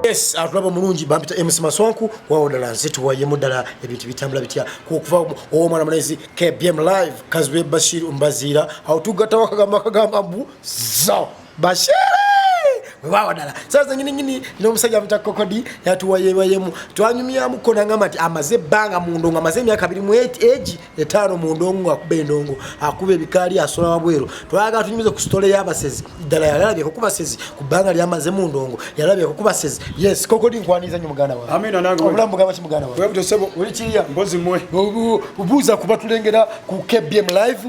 yes atulaba mulungi bampita emusi maswanku wawo ddala nze tuwayemu ddala ebintu bitambula bitya kukuva owomwana mulezi kbm live kazwe bashir mbaziira awo tugattawo akagamba akagamba mbu zao Bashiri wewawa dala saa zenyini nyini nomusajja amuta kokodi yatuwayewayemu twanyumyamuko nangamba nti amaze ebbanga mu ndongo amaze emyaka abiri mu egi etaano mu ndongo ngaakuba endongo akuba ebikaali asola wabweru twagala tunyumize ku sitole y'abasezi ddala yalabyeko ku basezi ku bbanga lyamaze mu ndongo yalabyeko ku basezi yes kokodi nkwaniriza nyo muganda waobulamu bugamba ki muganda wawe obuuza kuba tulengera ku kbm live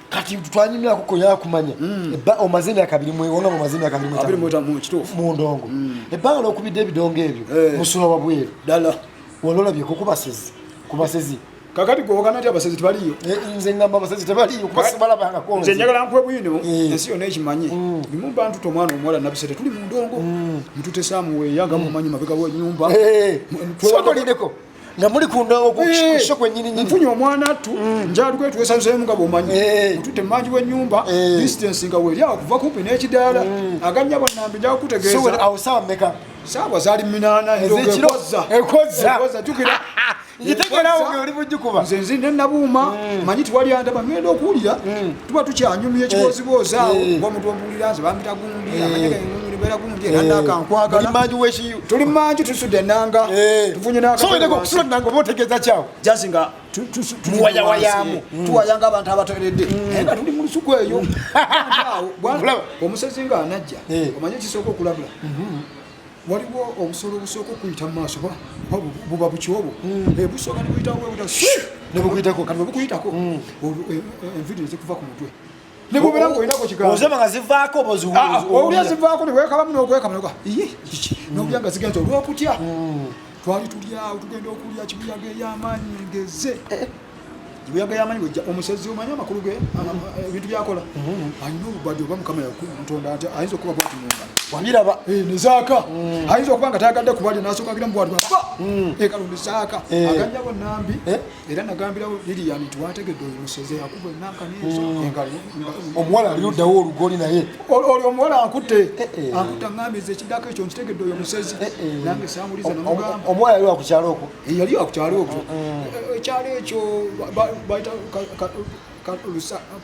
kati twanyumya kuko ya kumanya mm. ba omaze myaka biri mwe wona omaze myaka biri mwe abiri mwe tamu kitufu mu ndongo mm. e ba lo kubide bidongo ebyo hey. Eh. musula wa bweru dala walola bye kukuba sizi kuba sizi kakati gwo kana tya basezi tebali yo eh, nze ngamba basezi tebali yo kuba sibala banga ko nze njagala nkwe bwino eh. ensi yo nechi manye mm. bimu bantu to mwana omwala nabisete tuli mu ndongo mtute samu we yanga mu manyi mabega wo nyumba twalideko nga muli kundawokukisho eh, kwenyini nyini mfunye omwana attu mm. njali kwetu wesanzemu nga bomanyi eh. mutute manji we nyumba eh. distance nga weli awo kuva kupi ne kidala mm. aganya bwa nambi nja kutegeza so awo sawa meka sawa zali minana ndo ekoza ekoza ekoza tukira ngitegera awo oli bujju kuba nze nzi ne nabuuma mm. manyi tuwali andaba ngenda okuwulira tuba tukyanyumya ekiboozi boozi awo omuntu omuwulira nze bambitagu tuli manju tusudde enanga tufunyeokusulanangaobaotegeza kyawo jasi nga tuwayawayamu mm. tuwayanga abantu abatoeredde mm. naye nga tuli mu lusuku eyo omusezi nga anajja eh. omanye kisooka okulabula mm-hmm. waliwo obusolo obusooka okuyita mu maaso buba bukyobo mm. eh, busooka nebuyitawo nebukuyitako kati bwebukuyitako enviri nezikuva ku mutwe nebubera ngaolinako kigaozoba nga zivaako owulya zivaako niwekabamu nokwekamunoga iye kiki nowulya nga zigenza olwokutya hmm. twali tulyawo tugenda okulya kibuyaga eyamaanyi ngeze eh, eh. kibuyaga yamanyi wejja omusezi omanyi amakulu ge hmm. ebintu byakola hmm. alina obubadi oba mukama yakutonda nti ayinza okuba bwati mumba wabiraba eh, nezaaka ayinza okuba nga tayagadde kubalya nasokagira mubwati baba ekalondezaaka aganyabo nambi era nagambirawo lilian nti wategedde oyo museze yakuba enankaomuwala ali luddawo olugoli naye olyo omuwala ankutte eh, eh. ankutte angambiriza ekiddako ekyo nkitegedde oyo musezi eh, nange samuliza omuwala yali wakukyalo okwo yali wakukyalo okwo ekyalo ekyo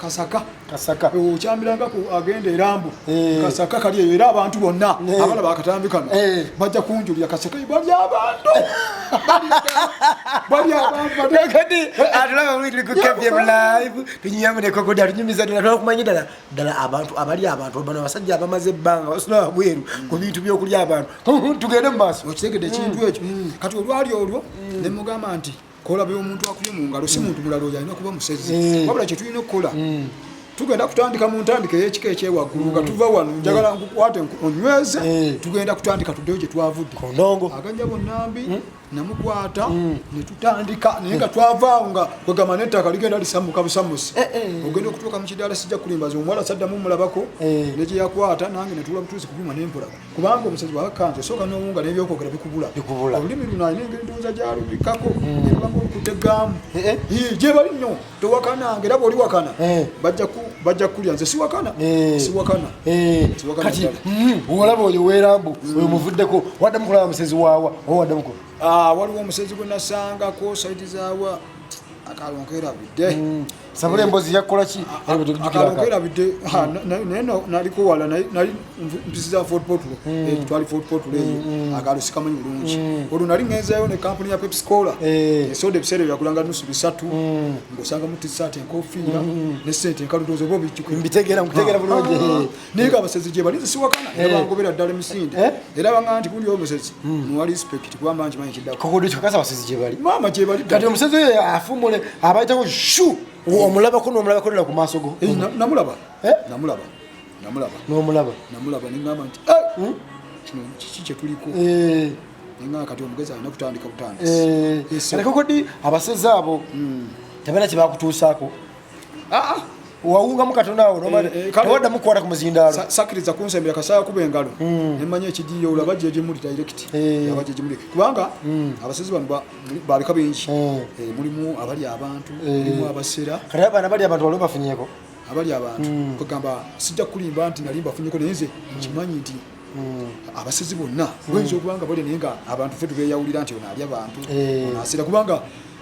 kasaka kasaka eh, okyambilanga ku agenda erambu eh. kasaka kali eyo era abantu bonna eh. abala bakatambi kano bajja kunjulira kasaka bali abantu bali abantukati atulaba witli ku kebye live tunyamuneko kuda tunyumiza ddala twakumanya ddala ddala abantu abali abantu bano abasajja abamaze ebbanga basula wabweru mm. ku bintu byokulya abantu tugende mu maaso okitegedde ekintu mm. ekyo mm. kati olwali olwo ne mugamba nti kola byomuntu akubye mu ngalo si muntu mulala oyo alina kuba musezi mm. wabula kyetulina okukola mm. tugenda kutandika mu ntandika eyekika ekyewaggulu nga mm. tuva wano njagala nkukwate onyweze tugenda kutandika tuddeyo gye twavudde aganja bonnambi namukwata netutandika naye nga twavaawo nga kwegamba nettaka ligenda lisammuka busamusi eh, eh, eh. ogenda okutuuka mu kidaala sijja kulimbaza omuwala saddamu mulabako negyeyakwata nange netula butuuzi kubyuma nempola kubanga omusajja bwakakanja osooka n'owunga n'ebyokwogera bikubula bikubula olulimi luno alina engeri ndowooza gyalubikako hmm. ebanga olukudde gaamu eh, eh. gyebali nnyo towakananga era bwoli wakana eh. bajja kukulya nze siwakana siwakana kati hmm, olaba oyo werambu hmm. oyo muvuddeko waddamu kulaba musezi waawa oba waddamuko ah, waliwo omusezi gwe nasangako saidi zawa akalonkerabudde sabula embozi yakukola ki akalonkerabidde naye naliko wala nali mpisi za fort portal hmm. eh, twali fort portal eyo hmm, hmm. akalo sikamanyi bulungi olwo nali ngenzayo ne kampuni ya pepsi cola eh. esoda ebiseera ebyo yakulanga nusu bisatu ng'osanga mu tisaati enkofiira ne sente enkaludozo oba obijjuko mbitegeera nkutegeera bulungi ah. naye nga abasezi gyebali nze siwakana era eh. bangobera ddala emisinde eh? era banga nti kundi omusezi hmm. muwa respect kubamba nkimanyi kiddakokakasa abasezi gyebali maama gyebali kati omusezi oyo afumule abayitako shu omulabako nomulabako nala ku maaso go eh, namulaba namulaba namulaba nomulaba namulaba nengamba nti hmm? kino kiki kyetuliko nengamba kati omugezi alina kutandika butandisi kati kokodi abasezi abo hmm. tebalina kyebakutuusaako ah, ah. wawungamu katonda awo eh, eh, tewada mukwata ku muzindaalo sakiriza kunsembera kasaya kuba engalo hmm. nemanya ekigiyo olaba gyegimuli direct eh. aba gyegimuli kubanga hmm. abasezi bano babika bingi mulimu abali abantu mulimu abasera kati abana bali abantu waliwo bafunyeko abali abantu hmm. kwegamba sijja kulimba nti nalimba funyeko naye nze nkimanyi nti Hmm. abasezi bonna hmm. oyinza okubanga bali naye nga abantu fe tubeyawulira nti ono ali abantu eh. onasira kubanga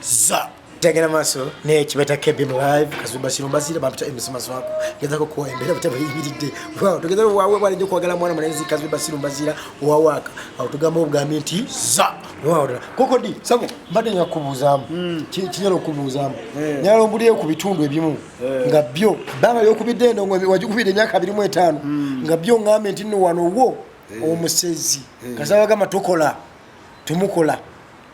za tagenda maaso naye kibeta kebim live kazumba kino mbazire bampita emisima swako ngezako kuwa embeera butaba yimiride wow tugeza wawe bwale njo kwagala mwana mulenzi kazumba sino mbazira wawaka awo tugamba obugambi nti za wow koko di sabo mbadde nya kubuzamu mm. kinyalo kubuzamu yeah. nyalo mbuli ku bitundu ebimu yeah. nga byo banga yo kubide ndo ngo wajukubide myaka 25 mm. nga byo ngambe ntino wano wo yeah. omusezi yeah. kasabaga matokola tumukola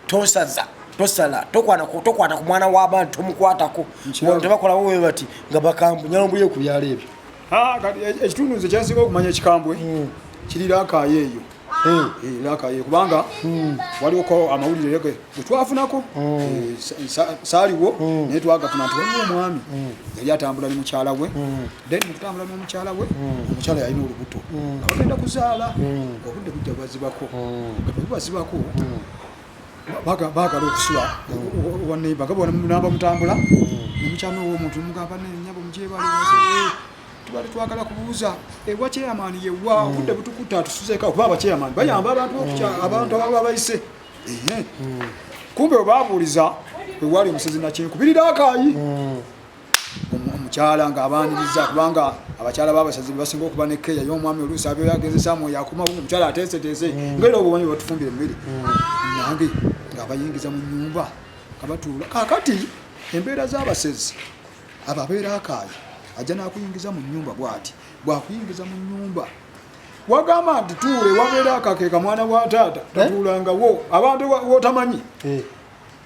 tosaza tosala tokwata tokwata ku mwana w'abantu tomukwatako wano tebakolawo we bati nga bakambwe nyalombuye ku byalo ebyo ah, e, ekitundu nze kyensinga okumanya ekikambwe hmm. kiri lakayo eyo hmm. eh, lakayo kubanga hmm. waliwoko amawulire ge getwafunako eh, saliwo naye twagafuna nti waliwo omwami yali atambula ne mukyala we then mukutambula n'omukyala we hmm. omukyala yalina olubuto hmm. abagenda kuzaala hmm. obudde bujja bwazibako bwazibako bagala okusula waneiba nga bonaba mutambula nomukyala owomuntu mugamba nenyabo mujebali tubali twagala kubuuza ewa eh, chairman yewa obudde butukuta tusuzeko okuba abachairman bayamba abantu abantu ababa bayise kumbe webabuuliza wewali omusezi nakyenkubirira akaayi omukyala nga abaniriza kubanga abakyala babasazi bebasinga okuba ne keya ye omwami oluusi abeera agezesa mwoyo akuma omukyala ateeseteese mm. ngaera obwo bambi batufumbira emmere mm. nange nga abayingiza mu nyumba nga batuula kakati embeera z'abasezi abo abeera akaayi ajja nakuyingiza mu nyumba bwati bwakuyingiza mu nyumba wagamba nti tuule wabeera akakeeka mwana wa taata eh? tatuulangawo abantu wotamanyi eh.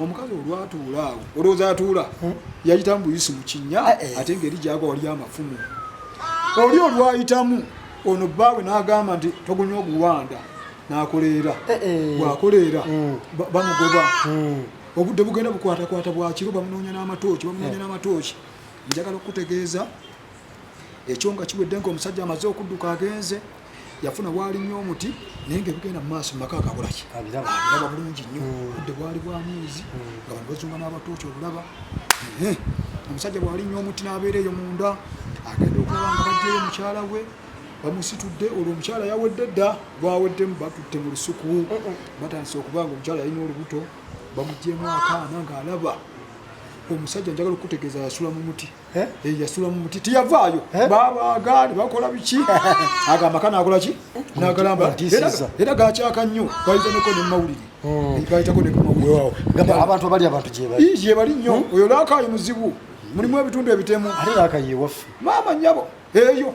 omukazi olwatuula awo olowooza atuula hmm? yayita mbuyisi mu kinnya ah, eh. ate ngeri gyagwa wali amafumu oli olwayitamu ono bbaawe n'agamba nti togunya oguwanda n'akoleera eh, eh. bw'akoleera hmm. bamugoba hmm. obudde bugenda bukwatakwata bwakiro bamunoonya n'amatooki bamunoonya n'amatooki njagala okukutegeeza ekyo nga kiwedde ngaomusajja amaze okudduka agenze yafuna waali nnyo omuti naye nga ebigenda mu maaso mumaka agabulaki abiraba bulungi nnyo hmm. budde bwali bwa mwezi hmm. nga bano bazunga n'abatooki obulaba omusajja bwali nnyo omuti n'abeera eyo munda agenda okulaba nga bajjayo mukyala we bamusitudde olwo omukyala yawedde dda lwaweddemu batutte mu lusuku batandise okuba nga omukyala yalina olubuto bamugyemu akaana ng'alaba omusajja njagala okukutegeeza yasula mu muti Eh? Eh, yasula mu muti teyavaayo eh? babaaga ne bakola biki ago amaka nakola ki nagalamba era gakyaka nnyo gayitaneko nemumawulire hmm. gaitako nekumawulireabantu abali abantu gyebali nnyo hmm? oyo lakayi muzibu mulimu ebitundu ebitemu ate lakayi ewaffe maama nyabo eyo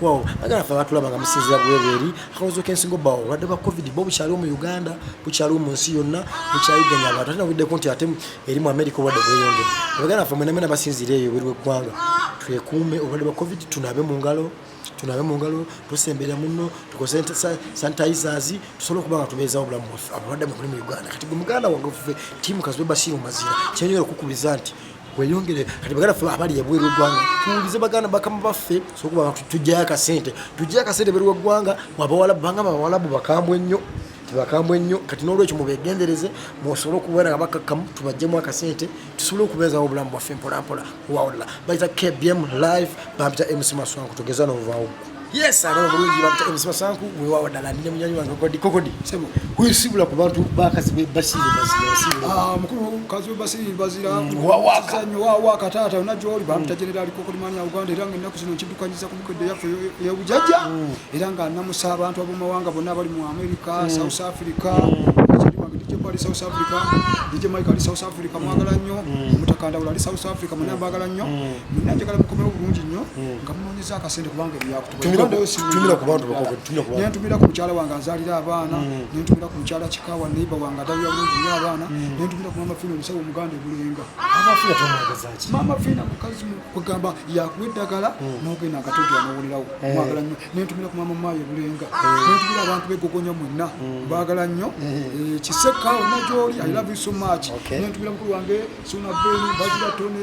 wow agala fe batulaba nga musinzira bwebweri akalozo kensingo bawo obulwadde bwa covid bo bukyaliwo mu uganda bukyaliwo mu nsi yonna bukyayiganya abantu ate nawuddeko nti ate eri mu amerika obulwadde bweyongere abaganda fe mwenamwena basinzira eyo buli weggwanga twekuume obulwadde bwa covid tunabe mu ngalo tunabe mu ngalo tusembera muno tukoze sanitizers tusobole okuba nga tubeezawo obulamu bwaffe abalwadde mukuli mu uganda kati gwe muganda wange ofufe tiimu kazibebasiimu mazira kyenyera okukubiriza nti weyongere kati bagala fe abali ebweru eggwanga tuwulize baganda bakama baffe sokuba tujjayo akasente tujjayo akasente ebweru weggwanga mwabawalabu banga bawalabu bakambwe ennyo tibakambwe ennyo kati n'olwekyo mubegendereze musobole okubeera nga bakakkamu tubajjemu akasente tusobole okubeezawo obulamu bwaffe mpolampola wawulira bayita kbm live bampita mc maswanku tugeza n'ovaawo Yes, alo bulungi bakita emisima sanku mwe wawa dala nne munyanyi wange kodi kokodi. Sebo. Kuyo sibula ku bantu bakazi be basiri basiri basiri. Ah, mukuru kazi be basiri basiri. Mm, wawa ka. Sanyo wawa ka tata unajua oli bamta mm. general kokodi mani ya Uganda iranga nnaku sino nchidukanyiza ku mukede yafu ya ujaja. Mm. Iranga namusa abantu abo mawanga bonna bali mu America, South Africa. ali South Africa DJ Mike ali South Africa mwagala nnyo Mutakanda ali South Africa mwana mwagala nnyo Mwana njagala mukomewo bulungi nnyo nga mwana akasente kubanga ebyakutumira kubantu nentumira ku mukyala wange azalira abaana mm. nentumira ku mukyala kikawa neiba wange adalira bulungi nyo abaana mm. nentumira ku mama fina omusawo omuganda ebulenga mama fina mukazi kugamba yakuwa eddagala mm. nogenda akatogera nowulirawo eh. mwagala nnyo nentumira ku mama maayo ebulenga eh. nentumira abantu begogonya mwenna mbagala nnyo eh. kiseka onagyoli i love you so much nentumira mukulu wange sona beni bazira tone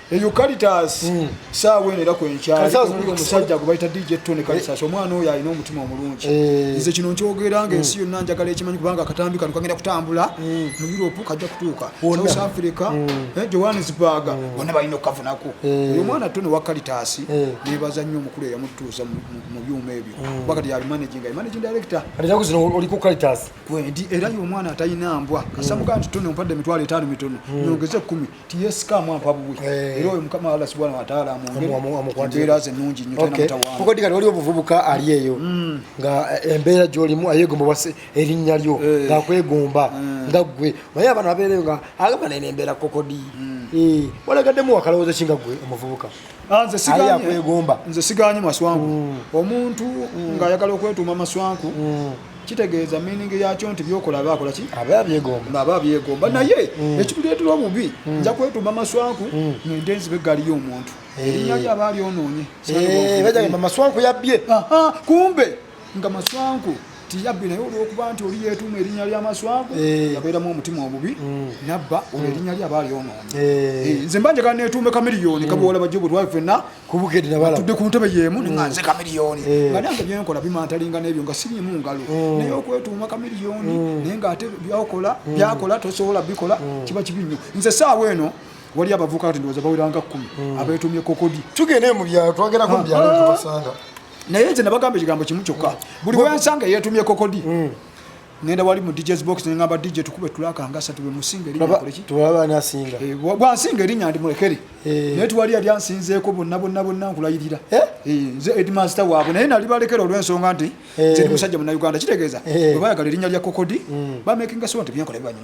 eucalitas hmm. saawa eno era kwenkyaomusajja gwe bayita dj tony calitas eh. omwana oyo alina omutima omulungi eh. nze kino nkyogera nga ensi hmm. yonna njagala ekimanyi kubanga akatambi kano kagenda kutambula hmm. mu europe kajja kutuuka south africa eh, johannesburg bona balina okukavunako oyo omwana tony wa calitas nebaza nnyo omukulu eyamutuuza mu byuma ebyo kuba kati yabimanaginga imanaging director era yo omwana atalina mbwa kasamuga nti tony ompadde emitwalo etaano mitono nyongeze kumi TSK mwampa buwi eh. era oyo mukama Allah subhanahu wa ta'ala amwongere ze nungi nnyo tena mutawana kuko digala waliwo omuvubuka ali eyo mm. nga eh, embeera gyolimu ayegomba wase erinnya lyo eh. nga kwegomba mm. nga ggwe naye abana babeereyo nga agamba naye nembeera kokodi mm. walagadde muwakalowooza ki nga ggwe omuvubuka Ah, akwegomba nze siganye maswanku mm. omuntu mm. ng'ayagala okwetuuma maswanku mm. kitegeeza miningi yakyo nti byokola aba akola ki aba abyegomba aba abyegomba naye ekituleetera obubi nja kwetuuma maswanku ngende nzibe eggaali y'omuntu eh. erinnya lyo aba alyonoonye eh, bajagamba maswanku yabbye kumbe nga maswanku tiyabbi naye olwokuba nti oli yetuuma erinnya lya maswanku eh. yabeeramu omutima obubi mm. nabba olwo mm. erinnya lye aba alyonoonye eh. Eh, nze mba njagala netuume kamiriyoni mm. kaboola bajja obulwayi fenna tudde ku ntebe yeemu nga nze kamiriyoni nga nange byenkola bimantalinga n'ebyo nga sirimu ngalo naye okwetuuma kamiriyoni naye nga ate byakola byakola tosobola bikola kiba kibi nnyo nze saawa eno wali abavuka kati ndowooza baweranga kkumi abeetuumye kokodi tugende mu byalo twagerako mu byalo ah. tubasanga naye nze nabagamba ekigambo kimu kyokka mm. buli wensanga eyetumye kokodi mm. ngenda wali mu DJ's box ne ngamba DJ tukube tulaka ngasa tube musinga eri nyakole ki tuwaba na singa eh bwa singa eri nyandi mulekere eh ne twali ali ansinze ko bonna bonna bonna nkulayirira eh nze ed master wabo naye nali balekero lwe nsonga nti eh. nze musajja mu Uganda kitegeeza eh. bwe bayagala eri nyalya kokodi mm. ba making us want byankola byanyu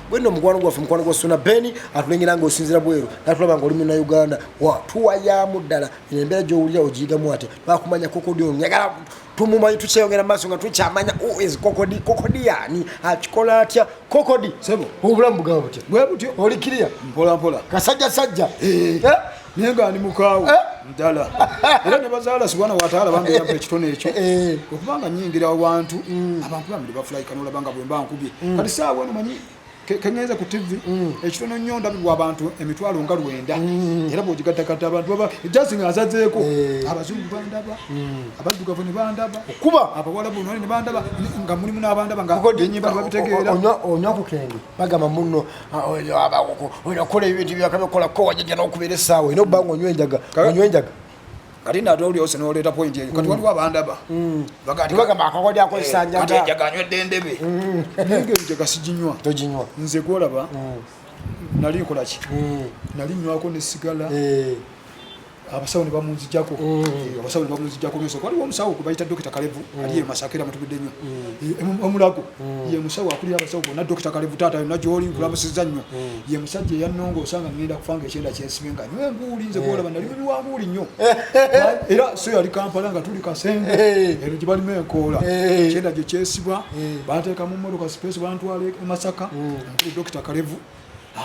bwenno omukwano gwaffe mukwano gwa suna beni atulengera nga osinzira bweru natulaba nga oli muna uganda tuwayamu ddala eno embeera gyowulira ogiyigamu ate bakumanya kokodi ono yagala tumumanyi tukyeyongera maaso nga tukyamanya is kokodi kokodi yani akikola atya kokodi sebo obulamu bugaba butya bwe butyo oli kiriya mpolampola kasajja sajja eh. Eh? naye nga ndi mukaawo eh? ddala era ne bazaala sibwana wataala bambeerako ekitone ekyo eh. okubanga nyingira abantu mm. abantu bambi bafulaika nolaba nga bwemba nkubye mm. kati saawa eno manyi keŋeza ku tv mm. ekitono nnyo ndabibwa abantu emitwalo nga lwenda era bwogigattagatta abantu baba jasi nga azazeeko eh. abazungu bandaba abaddugavu ne bandaba okuba abawalabu nole ne bandaba nga mulimu n'abandaba nga enyimba babitegeera onywa ku kenge bagamba munno Ah, oyo aba oyo akola ebintu byakabe kola ko wajaja n'okubeera essaawa ina obba ng'onywa enjaga onywa enjaga kati nate oli ose noleeta pointi eyo kati mm. waliwo abandaba mm. bagamba akakodi akozesa eh, njagakati enjaga anywedde endebe mm. naye enjaga siginywa toginywa nze gwolaba nali nkolaki nali nywako ne sigala eh. abasawo ne bamunzijako mm. abasawo ne bamunzijako nso waliwo omusawo gwe bayita dokita kalevu mm. ali eyo masaka era mutubidde nnyo mm. omulago ye musawo akulira abasawo bonna dokita kalevu taata yonna gyoli nkulamusiza nnyo ye musajja eyannonga osanga ngenda kufanga ekyenda kyensibe nga nywe enguuli nze kuolaba nali mubi wa nguuli nnyo era so yali kampala nga tuli kasenge eno gye balimu enkoola ekyenda gye kyesibwa banteeka mu mmotoka sipeesi bantwala e masaka nkulu dokita kalevu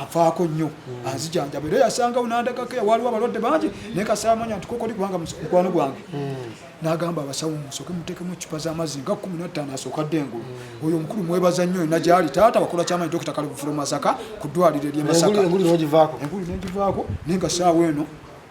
avaako nnyo hmm. anzijanjaba era yasangawo nandagako waliwo abalwadde bangi naye kasaamanya nti kokoli kubanga mukwano gwange hmm. nagamba abasawo musoke mutekemu ecupa zamazzi nga kumi nattaano asooka dde engulu hmm. oyo omukulu mwebaza nnyo ena gyali taata wakola kyamanyi dokita kale bufula masaka ku ddwaliro erye masaka engulu nengivaako naye nga saawa eno